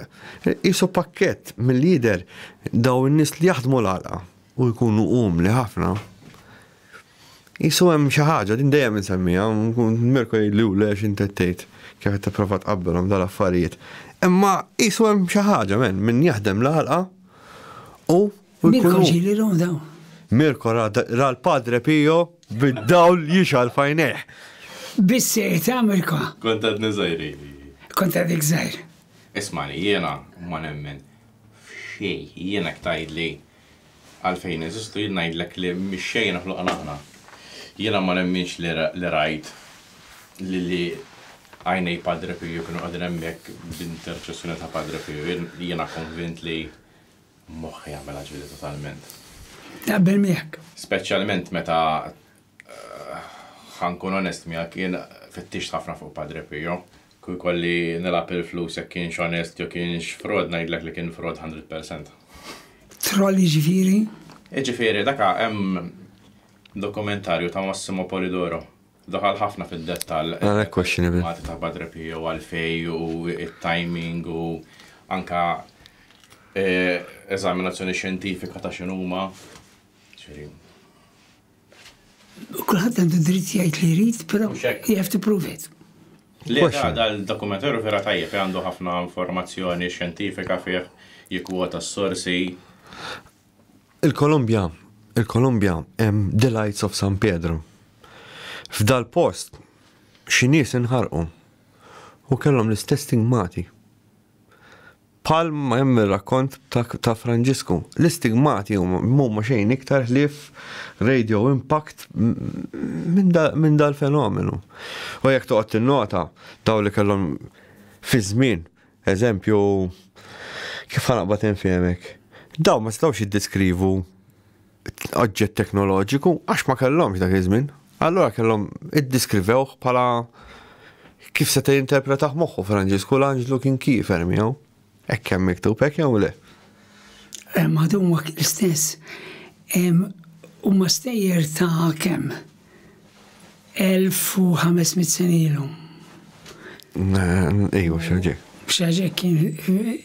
jisu pakket mill-lider daw n-nis li jaħdmu l-għalqa u jkunu umli ħafna. Qisu hemm xi ħaġa, din dejjem insemmiha, Mirko jgħidli hu le x'int qed tgħid, kif qed tipprova tqabbelhom dal-affarijiet. Imma qisu hemm xi ħaġa men, min jaħdem l-għalqa u Mirko ġielilhom dawn. Mirko ra l-Padre Pio bid-dawl jixgħal f'għajnejh. Biss sejta Mirko. Kont għadni żgħir ili. Kont għadek żgħir. Ismani, jiena ma nemmen f'xejn, jiena jekk tgħidli Għalfejn neżistu? Jien ngħidlek li mix-xejn ħloqna aħna. Jiena ma nemminx li rajt li li għajnej Padre Pio kienu qegħdin hemmhekk b'interċessjoni ta' Padre Pio. Jiena konvint li moħħi għamilha ġlieda totalment. Naqbel miegħek. Speċjalment meta Ħa nkun onest miegħek, jien fittixt ħafna fuq Padre Pio. Kieku jkolli nilgħab il-flus jekk kienx onest jew kienx frod ngħidlek li kien frod 100%. Troll jiġifieri? Jiġifieri daka hemm dokumentarju ta' Massimo Polidoro daħal ħafna fid-dettall. Għana ah, questionable. Mati ta' Padre Pio għalfej u il-timing u anka eh, eżaminazzjoni xjentifika ta' xinuma. Kulħadd għandu dritt jgħid li jrid, però you have to prove it. Le, dal-dokumentarju vera tajjeb għandu ħafna informazzjoni xjentifika fih jikwota s-sorsi. Il-Kolombja, il-Kolombja hemm Delights of San Pedro. F'dal post xi nies inħarqu u kellhom l-istess stigmati. Bħal ma hemm ir-rakkont ta' Franġisku, l-istigmati huma xejn iktar ħlief radio impact minn dal-fenomenu. U jekk toqgħod tinnota, dawk li kellhom fiż-żmien, eżempju, kif ħa naqbad infehmek, dawn ma setgħux jiddeskrivu oġġett teknoloġiku għax ma kellhomx dak iż-żmien. Allura kellhom iddiskrivew bħala kif se jinterpretaħ moħħu Franġisku l-anġlu kien kiefer miegħu. Hekk hemm miktub hekk jew le? Hemm għadhom l-istess. Huma stejjer ta' kemm? 1500 sena ilhom. Ejju, xaġek. Xaġek kien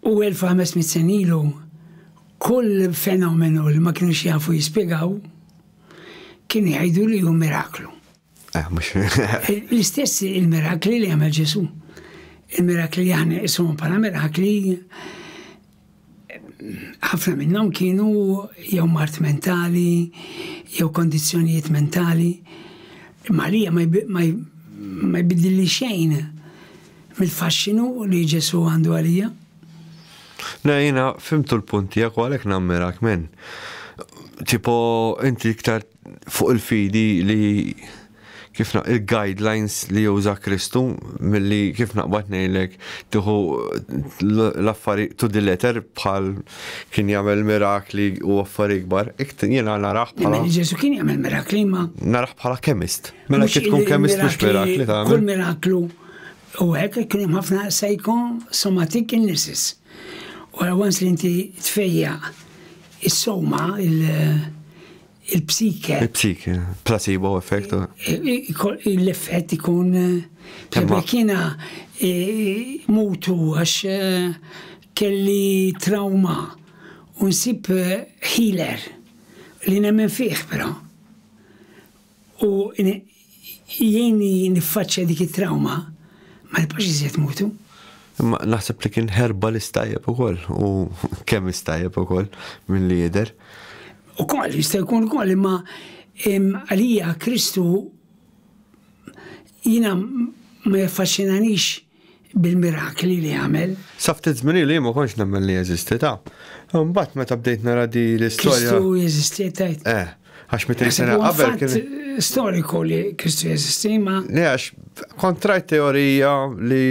U 1,500 sena ilu, kull fenomenu li ma kinux jafu jispjegaw, kienu jgħidu li hu miraklu. Eh, L-istess il-mirakli li għamel Ġesu. Il-mirakli li aħna jisum bħala mirakli ħafna minnhom kienu jew mart mentali, jew kondizzjonijiet mentali. Malija ma jbidilli xejn mill-faxxinu li Ġesù għandu għalija. Le, jina fimtu l-punt tiegħek u għalhekk nammirak men. Tipo, inti iktar fuq il-fidi li kif il-guidelines li juża Kristu milli kif naqbad ngħidlek tieħu l-affarijiet to the letter bħal kien jagħmel mirakli u affarijiet kbar, jiena naraħ bħala. Ġesu kien jagħmel mirakli ma. Naraħ bħala kemist. Mela kif tkun kemm istux mirakli ta' Kull miraklu u hekk kien hemm ħafna somatik illnesses. U once li inti tfejja is-soma, il-psike. Il-psike, placebo effect. L-effett ikun. Imma kiena mutu għax kelli trauma u nsib healer li nemmen fih però. u jgħinni niffaċċja dik it-trawma, ma nibqgħux iżjed mutu. Imma naħseb li kien ħerba li stajjeb ukoll u kemm istajjeb ukoll minn li jidher. Ukoll jista' jkun ukoll imma għalija Kristu jiena ma jaffaxxinanix bil-mirakli li għamel. Sa ftit żmien ilu jien ma kontx nemmen li jeżisti, taf. Imbagħad meta bdejt nara di l-istorja. Kristu jeżisti tgħid? Eh, għax mit sena qabel kien. Storiku li Kristu jeżisti ma. Le għax kontrajt teorija li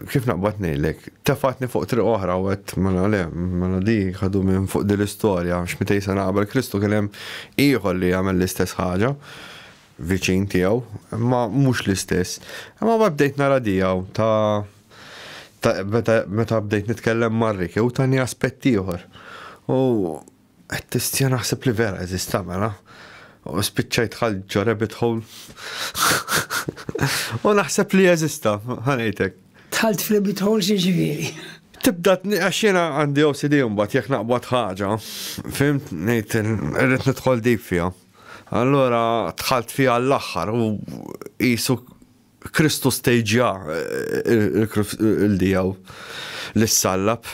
kif naqbad ngħidlek, tefatni fuq triq oħra u għed mela le, mela di ħadu minn fuq din l-istorja, x'mitej sena qabel Kristu kien hemm ieħor li jagħmel l-istess ħaġa. viċin tiegħu, imma mhux l-istess. Imma ma bdejt nara diegħu ta' meta bdejt nitkellem mar-Riki u tani aspett ieħor. U qed tistja naħseb li vera eżista mela. U spiċċajt ħal ġo rabbit hole. U naħseb li eżista, ħanejtek. Tħalt f'rabbit hole xi ġifieri. Tibda għax jiena għandi OCD mbagħad jekk naqbad ħaġa, fimt ngħid irrid nidħol dejb fiha. Allura dħalt fiha għall-aħħar u qisu Kristu stejġja il-dijaw li ssallab,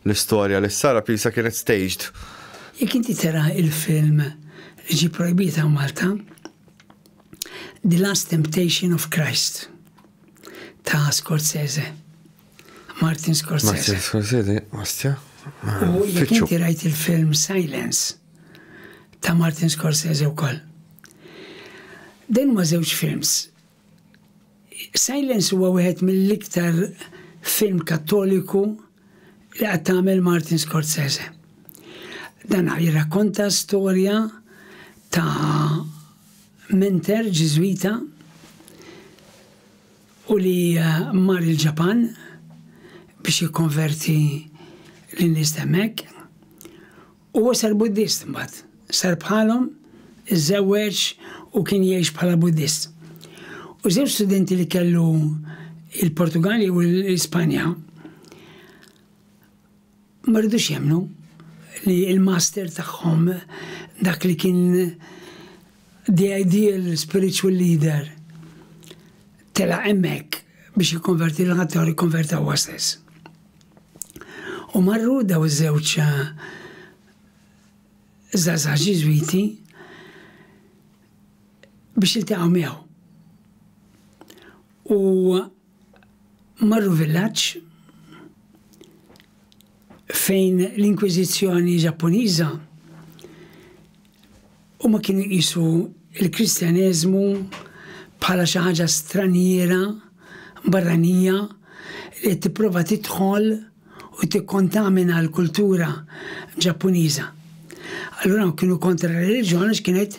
l-istorja li ssallab jisa kienet staged. Jekk inti tara il-film li ġie projbit hawn Malta, The Last Temptation of Christ ta' Scorsese. Martin Scorsese. Martin Scorsese, ostja. U jekk inti rajt il-film Silence ta' Martin Scorsese u koll. Dan ma żewġ films. Silence huwa wieħed mill-iktar film kattoliku li qed tagħmel Martin Scorsese. Dan jirrakkonta storja ta' menter ġiżwita u li mar il-Ġapan biex jikkonverti lin-nies ta' hemmhekk. Huwa sar Buddist imbagħad, sar bħalhom, iżżewweġ u kien jgħix bħala Buddist. U żewġ studenti li kellu il-Portugali u l-Ispanja Ma ridux jemmnu li l-master tagħhom dak li kien the ideal spiritual leader tela' hemmhekk biex jikkonverti lil ħaddieħor jikkonverta huwa stess. U marru daw iż-żewġ żgħażagħ eh, Ġiżwiti biex iltaqgħu miegħu. U Marru villaġġ fejn l-Inkwiżizzjoni Ġappuniża huma kienu jqisu l-Kristjaneżmu bħala xi ħaġa straniera, barranija, li qed tipprova tidħol u tikkontamina l-kultura Ġappuniża. Allura dawn kienu kontra r-reliġjon għax kienet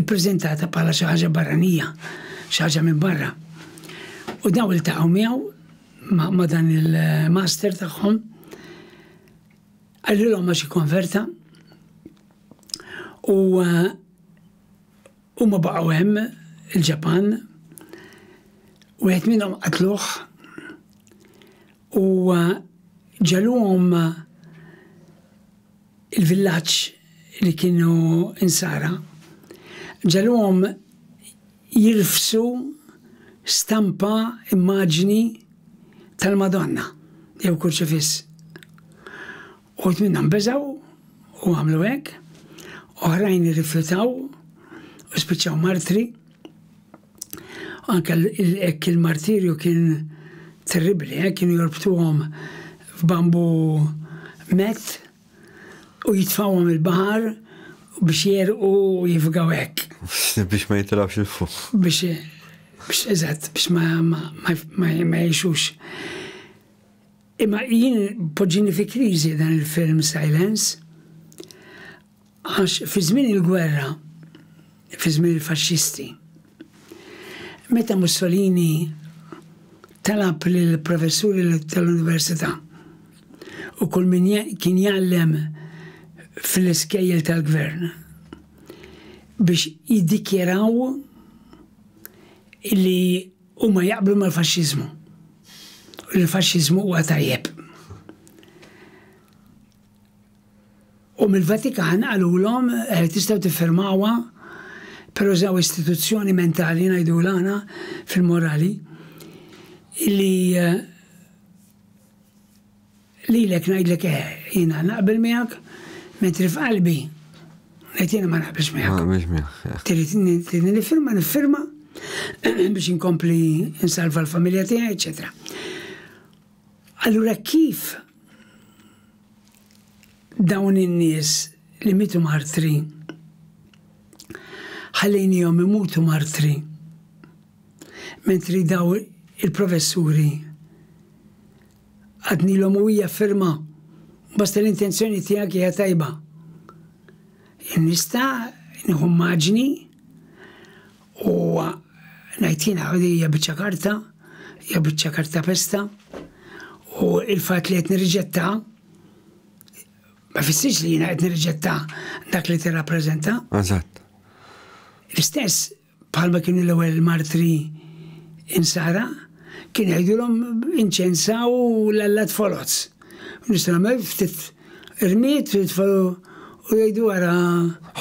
ippreżentata bħala xi ħaġa barranija, xi ħaġa minn barra. U dawn iltaqgħu miegħu ma' dan il-master tagħhom għallilhom għax ikkonverta u eh, huma baqgħu hemm il-Ġapan u qed minnhom qatluh U ġegħluhom il-villaġġ li kienu insara, ġegħluhom jirfsu stampa, immaġni, tal-Madonna jew kurċifiss. Uħud minnha nbeżgħu u għamlu hekk, oħrajn irrifjutaw u spiċċaw martri. Anke hekk il-martirju kien terribli, eh, kienu jorbtuhom f'bambu met u jitfawhom il-baħar biex jerqu jifgaw hekk. Biex ma jitilawx il-fuq. Biex biex eżatt biex ma ma ma jgħixux. Imma jien poġġini fi kriżi dan il-film Silence għax fi żmien il-gwerra, fi żmien il-faxxisti, meta Mussolini talab lill-professuri tal-università u kull min kien jgħallem fl-iskejjel tal-gvern biex jiddikjaraw li Huma jaqblu mal-faxxiżmu u li l-faxxiżmu huwa tajjeb. U mill-Vatikan qalulhom eh, tistgħu tiffirmawha però żaw istituzzjoni mentali ngħidu l-għana fil-morali li eh, Lilek ngħidlek eh, jiena naqbel miegħek, mentri f'qalbi ngħid jiena ma naqbilx miegħek. Ma naqbilx miegħek. Trid nifirma nifirma biex inkompli nsalva l-familja tiegħi, eċetera. Allura kif dawn in-nies li mitu martri ħallejnihom imutu martri mentri daw il-professuri Għadnilhom u hija ferma bosta l-intenzjoni tiegħek hija tajba. Nista' nieħu immaġni u ngħid jiena hija biċċa karta, hija biċċa karta pesta u l-fatt li qed nirriġetta ma fissirx li jiena qed nirriġetta dak li tirrappreżenta. Eżatt. L-istess bħalma kienu l-ewwel martri insara, kien jgħidulhom inċensaw l-allat foloz. Nistgħu nagħmel ftit irmiet tfalu u jgħidu wara.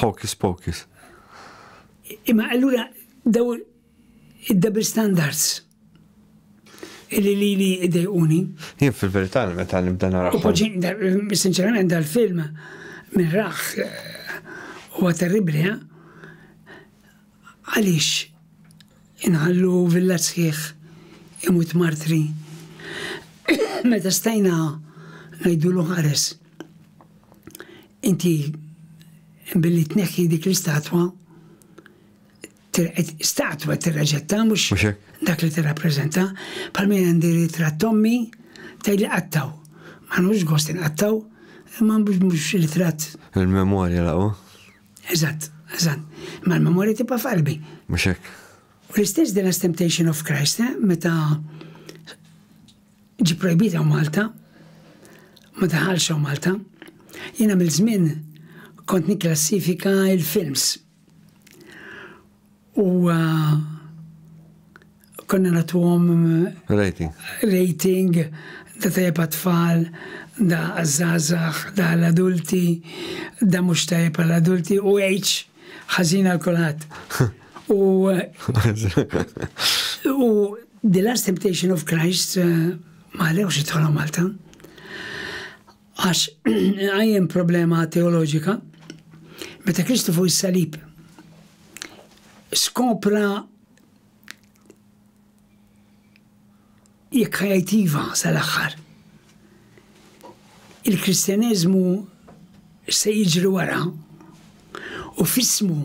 Hocus pocus. Imma allura daw id-double standards illi li li idejquni. Jien fil-verità meta nibda nara. Sinċerament dal-film minn raħ eh, huwa terribli, eh? Għaliex inħallu villa sħiħ imut martri meta stajna ngħidulu ħares inti billi tneħħi dik l-istatwa statwa tirraġetta mhux dak li tirrappreżenta bħal min għandi ritratt tommi tgħidli qattaw. Ma nħux gost inqattaw imma mhux ritratt. Il-memorja laqgħu. Eżatt, eżatt. Imma l-memorja tibqa' f'qalbi. Mhux hekk? U l-istess The Last Temptation of Christ, eh, meta ġi projbita Malta, ma daħalx Malta, jiena mill-żmien kont nikklassifika il-films. U konna natuhom rating. Rating da tajjeb għat-tfal, da għaż-żgħażagħ, da għall-adulti, da mhux tajjeb għall-adulti u age ħażin għal kulħadd. U u The Last Temptation of Christ ma ħalewx jidħolhom Malta. Għax inqajjem problema teoloġika, meta Kristu fuq is-salib skopra jekk ħajtiva sal-aħħar. Il-Kristjaneżmu se jiġri wara u f'ismu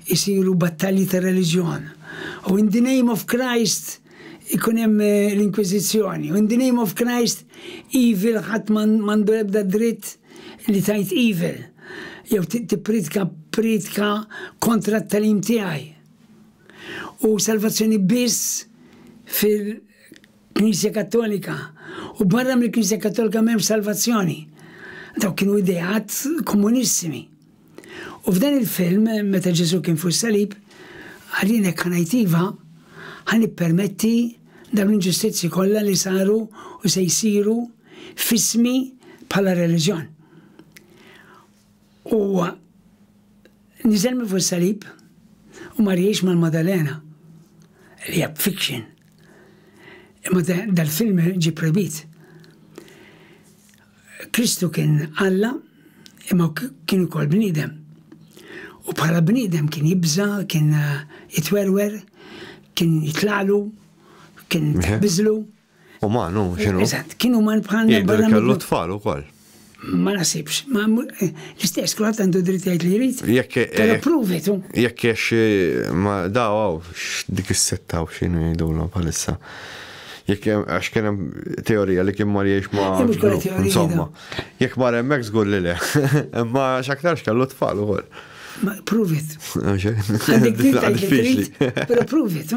jsiru battalji ta' reliġjon u in the name of Christ ikun hemm l-inkwiżizzjoni u in the name of Christ evil ħadd m'għandu l-ebda dritt li tgħid evil jew tippriedka priedka kontra t-tagħlim tiegħi u salvazzjoni biss fil Knisja Kattolika, u barra mill-Knisja Kattolika m'hemmx salvazzjoni. Dawk kienu ideat komunissimi. U f'dan il-film, meta Ġesù kien fuq is-salib, qal jien hekk ħa ngħid iva, ħa nippermetti dawn l-inġustizzji kollha li saru u se jsiru f'ismi bħala reliġjon. Huwa niżel minn fuq is-salib u mar jgħix mal-Madalena li hija fiction. Imma dal-film ġie projbit. Kristu kien Alla imma kien ukoll bniedem. U bħala bniedem kien jibża, kien jitwerwer, kien jitlaqlu, kien biżlu. Uman hu x'inhu. Eżatt, kien uman bħalna barra. Kellu tfal ukoll. Ma nasibx, ma eh, l-istess kulħadd għandu dritt jgħid li jrid. Jekk eh, Pero provi tu. Jekk għax eh, ma daw għaw, dik is-setta u x'inhu jgħidulhom bħalissa. Jekk għax kien hemm teorija li kien mar jgħix ma' insomma. Jekk mar hemmhekk żgur li le. Imma x'aktarx kellu tfal ukoll. Prove it. Għandek dritt Pero prove it.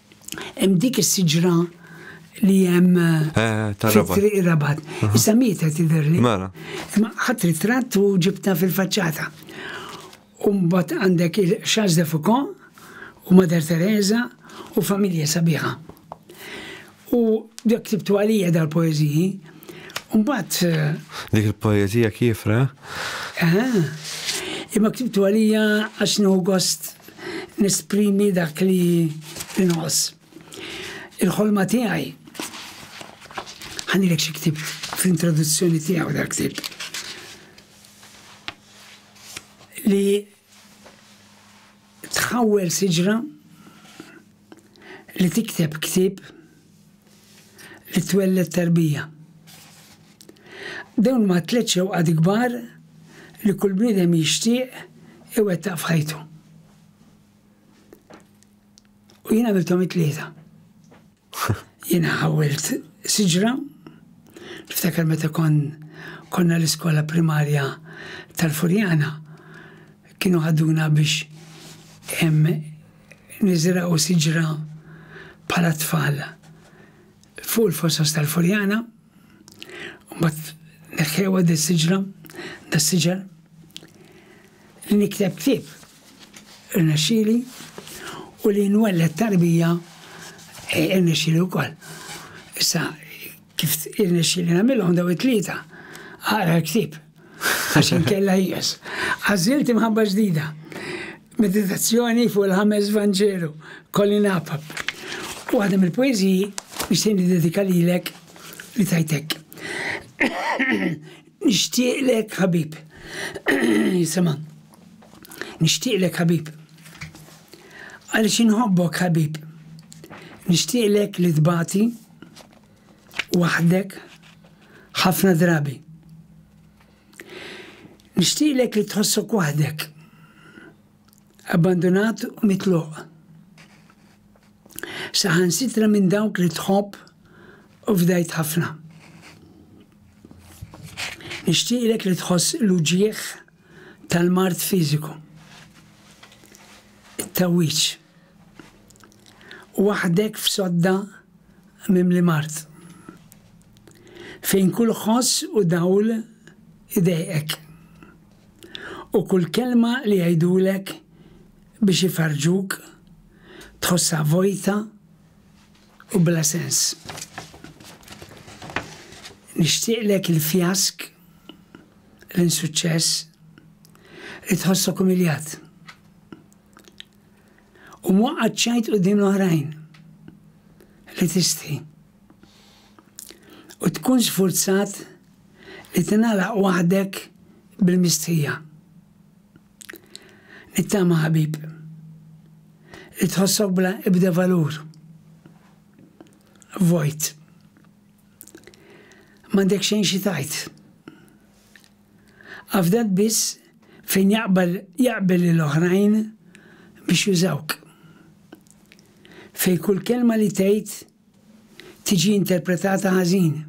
Hemm dik is-siġra li hemm fit-triq ir-rabat. Issa mieta tidherli. Mela. Imma ħadd ritratt u ġibta fil-faċċata. U mbagħad għandek il-Charles de Foucault u Mater Teresa u familja sabiħa. U dak ktibtu għalija dal-poeżiji Mbagħad. Dik il-poeżija kiefra? Aha. Imma ktibtu għalija għax nieħu gost nesprimi dak li nħoss. Il-ħolma tiegħi ħanilek xi ktib fl-introduzzjoni tiegħu dak ktib. Li tħawwel siġra li tikteb ktieb li twelled tarbija. Dawn huma t-tliet xewqat kbar li kull bniedem jixtieq iwettaq f'ħajtu. U jien għamilthom it-tlieta. Jiena ħawwilt siġra, niftakar meta kon konna l-iskola primarja tal-Furjana, kienu ħaduna biex Niżrgħu siġra bħala t-tfal fuq il-fosos tal-Furjana, mbagħad neħħewha din siġra da siġar li nikteb ktieb irnexxieli u li nwelled tarbija irnexxieli wkoll. Issa Kif irnexxieli nagħmilhom daw it-tlieta? Aqra l-ktieb għax inkella ħieles. Għażilt imħabba ġdida. Meditazzjoni fuq il-ħames Vanġelu, Colin Apap. U għadem il poeziji nixtieq dedika lilek li tajtek. Nixtieqlek ħabib. Jisema. Nixtieqlek ħabib. Għaliex inħobbok ħabib. Nixtieqlek li tbati waħdek ħafna drabi. Nixtieqlek li tħossok waħdek, abbandunat u mitluq. Saħan sitra minn dawk li tħobb u fdajt ħafna. Nixtieqlek li tħoss l-uġieħ tal-mard fiżiku, it-tgħawwiġ, waħdek f'sodda mimli mard, fejn kull ħoss u dawl idejqek, u kull kelma li jgħidulek biex ifarrġuk tħossha vojta u bla sens. Nixtieqlek il-fjask l-insuċċess li tħossok umiljat u mwaqqat ċajt qudiem l-oħrajn li tisti u tkun sfurzat li tingħalaq waħdek bil-mistħija. Nittama ħabib li tħossok bla ibda valur. Vojt. M'għandek xejn xi tgħid. Afdat biss fejn jaqbal jaqbel lil oħrajn biex jużawk. Fejn kull kelma li tgħid tiġi interpretata ħażin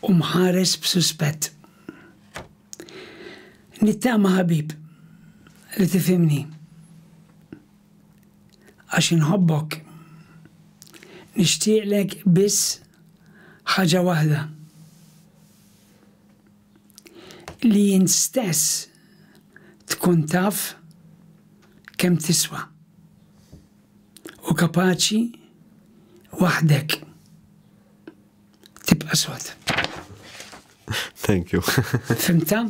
u mħares b'suspett. Nittama ħabib li tifhimni. għax inħobbok. Nixtieqlek biss ħaġa waħda, li int stess tkun taf kemm tiswa u kapaċi waħdek. Tibqa' sod. Thank you. Fimta?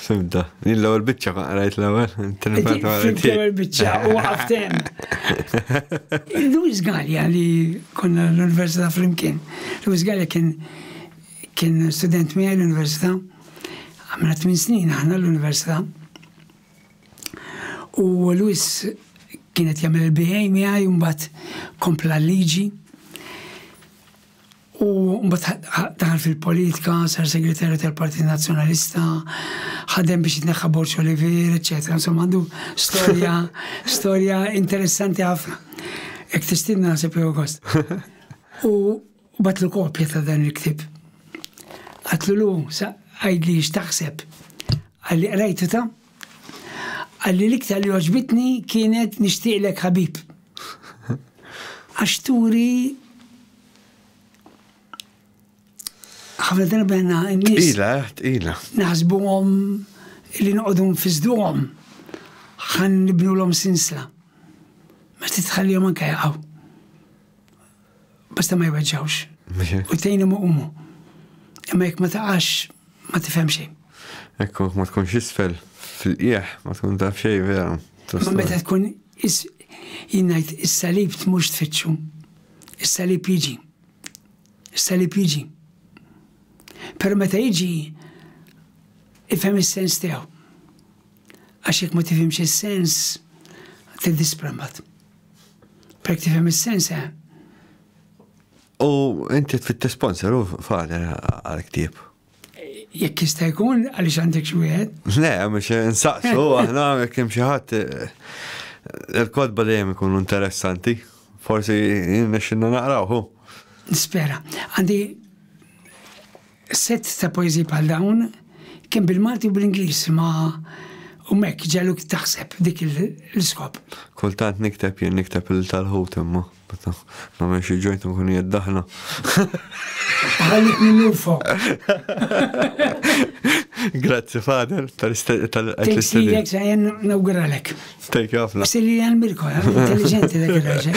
Fimta. Din l-ewwel biċċa ma qrajt l-ewwel. Fimt l-ewwel biċċa u għaftem. Luis Gallia li konna l-Università flimkien. Luis Gallia kien kien student miegħi l-Università. Għamna 8 snin aħna l-Università. U Luis kienet jagħmel il-BA miegħi mbagħad kompla l-liġi. U mbagħad daħal fil-politika, sar segretarju tal-Partit Nazzjonalista, ħadem biex jitneħħa Borġ Olivier, eċetera. Insomma għandu storja, storja interessanti ħafna. Ek tistinna naħseb jew gost. U batlu kopja ta' dan il-ktib. Għatlu lu, għajdli x'taħseb. Għalli qrajtu ta' Qal li l-iktar li għoġbitni kienet nixtieqlek ħabib. Għax turi ħafna darba għanna n-nis. Ila, ila. Naħsbu għom li nqodum fizdu għom. ħan nibnu l-om sinsla. Ma titħalli għom anka jaqaw. Basta ma jweġġawx. U tejnhom iqumu. Imma jekk ma taqax ma tifhem xejn. Ekku, ma tkunx isfel fil-qieħ, ma tkun taf xejn vera. Ma meta tkun is jinnajt is-salib tmux tfittxu. Is-salib jiġi. Is-salib jiġi. Pero meta jiġi ifhem is-sens tiegħu. Għax jekk ma tifhimx is-sens tiddisprambat. Pek tifhem is-sens eh. U inti tfitt sponsor u fader għal-ktib. Jekk jista' jkun għaliex għandek xi wieħed? Le, mhux insaqsu aħna jekk hemm xi ħadd eh, il-kodba dejjem ikunu interessanti. Forsi nexxinna naqrawhu. Nispera. Għandi Sett ta' poeżiji bħal dawn, kemm bil-Malti u bl-Ingliż ma hum hekk, ġegħluk taħseb f'dik l-iskop. Kultant nikteb jien nikteb il tal-ħut imma meta nagħmel xi ġojt nkun qiegħed daħla. Ħallik nillufok. Grazzi Fader tal-istedin. Jen nawguralek. Thank you ħafna. Silli għal Mirko, intelligenti dak il-raġel.